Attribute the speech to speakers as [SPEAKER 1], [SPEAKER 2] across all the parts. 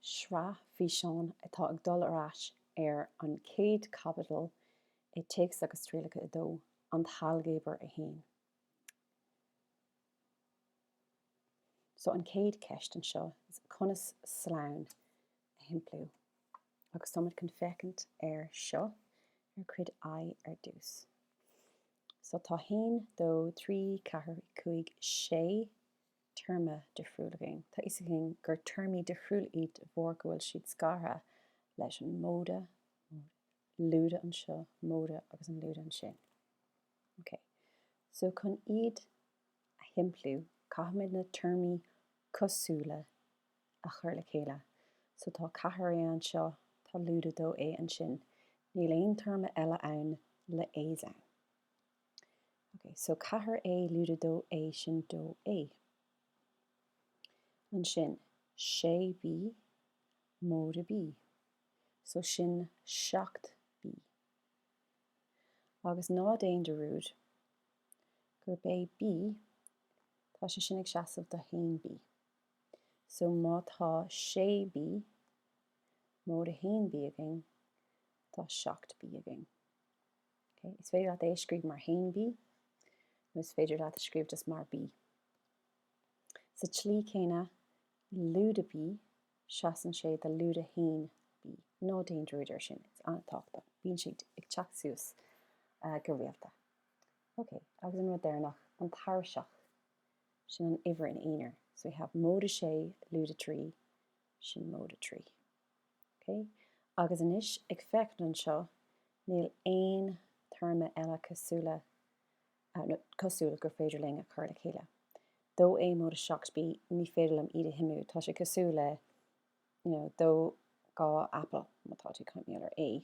[SPEAKER 1] Sraith físeán atá ag dul ar ais ar an chéad chaibidil i Téacs agus Trialacha 2, An tAilgéabar 1. So an chéad cheist anseo is conas slonn a shimpliú. Agus táimid chun féachaint air seo ar Cuid I ar dtús. So tá haon, dó, trí, ceathair, cúig, sé. téarma difriúil againn. Tá fhios againn gur téarmaí difriúla iad de bharr go bhfuil siad scartha leis an móide, móide, lúide anseo, móide agus an lúide ansin. OK. So, chun iad a shimpliú, caithfimid na téarmaí cosúla a chur le chéile. So, tá ceathair é anseo, tá lúide dó é ansin. Níl aon téarma eile ann le a's ann. Okay, so ceathair é lúide dó é sin dó é. Ansin, sé bí, móide bí. So sin seacht bí. Agus ná déan dearúd gurb é bí, tá sé sin ag seasamh do haon bí. So má tá sé bí, móide haon bí againn, tá seacht bí againn. Okay? Is féidir leat é a scríobh mar haon bí, nó is féidir leat a scríobh just mar bí. Sa tslí céanna, lúide bí, seasann sé do lúide haon bí. Ná déan dearúd air sin, it's an-tábhachtach. Bíonn siad ag teacht suas uh, go rialta. Okay, agus an rud deireanach, an tairiseach, sin an uimhir in aonar. So we have móide sé, lúide trí, sin móide trí. Ok, agus anois ag féachaint anseo, níl aon téarma eile cosúla, nó cosúla gur féidir linn a chur le chéile. 2A móide 7B, ní féidir liom iad a shuimiú, tá sé cosúil le, you know, 2, dhá apple, má tá tú ag caint mar gheall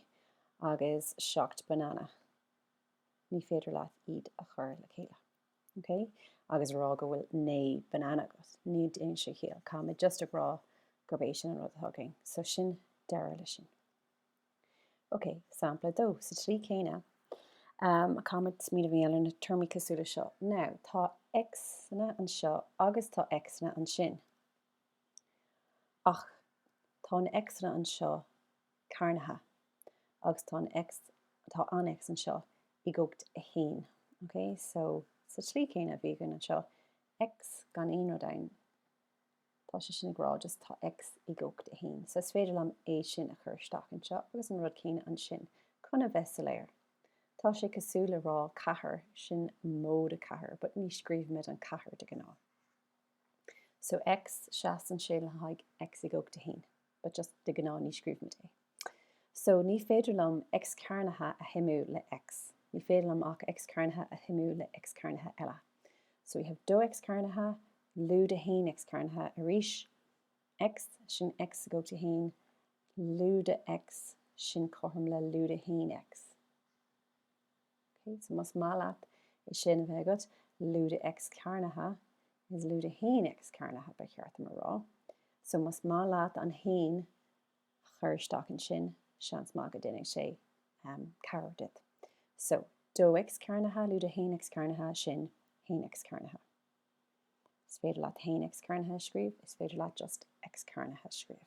[SPEAKER 1] ar A, agus 7 banana, ní féidir leat iad a chur le chéile. ok agus a rá go bhfuil naoi banana agat ní dhéanann sé ciall caithfimid just ag rá gurb é sin an rud atá againn so sin deireadh leis sin. Ok sampla dó sa tslí céanna um, ag caint mar gheall ar na téarmaí cosúla seo now tá x-anna anseo agus tá x-anna ansin ach tá na x-anna anseo cearnaithe agus tá an X, tá an X anseo i gcumhacht a 1, ok? So, sa tslí céanna a bhí againn anseo, X gan aon rud ann, tá sé sin ag rá just tá X i gcumhacht a 1. So, is féidir liom é sin a chur isteach anseo agus an rud céanna ansin, chun a bheith soiléir. Tá sé cosúil le rá 4, sin móide 4, but ní scríobhaimid an 4 de ghnáth. So, X, seasann sé le haghaidh X i gcumhacht a 1. but just de ghnáth ní scríobhaimid é. So ní féidir liom X cearnaithe a shuimiú le X. Ní féidir liom ach X cearnaithe a shuimiú le X cearnaithe eile. So we have dó X cearnaithe, lúide haon X cearnaithe arís, X, sin X i gcumhacht a haon, lúide X, sin cothrom le lúide haon X. Ok, so más maith leat é sin a bheith agat, lúide X cearnaithe is lúide haon X cearnaithe, ba cheart dom a rá. So más maith leat an haon a chur isteach ansin, seans maith go déanfaidh sé cabhair duit. So, dó X cearnaithe, lúide haon X cearnaithe, sin haon X cearnaithe. Is féidir leat haon X cearnaithe a scríobh, is féidir leat just X cearnaithe a scríobh.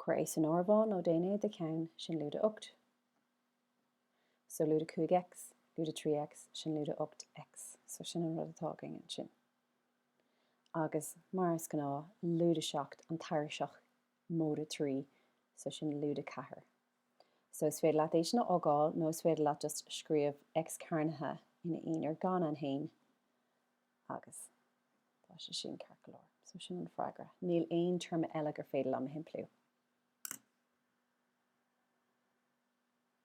[SPEAKER 1] cuir é san áireamhán nó déan é i do cheann, sin lúide 8 so lúide 5 X lúide 3 X sin lúide 8 X so sin an rud atá againn ansin. Agus mar is gnáth, lúide 7 an tairiseach móide 3 so sin lúide 4 so is féidir leat é sin a fhágáil nó is féidir leat just scríobh X cearnaithe ina aonar gan an haon agus tá sé sin ceart go leor. So sin an freagra. Níl aon téarma eile gur féidir liom a shimpliú.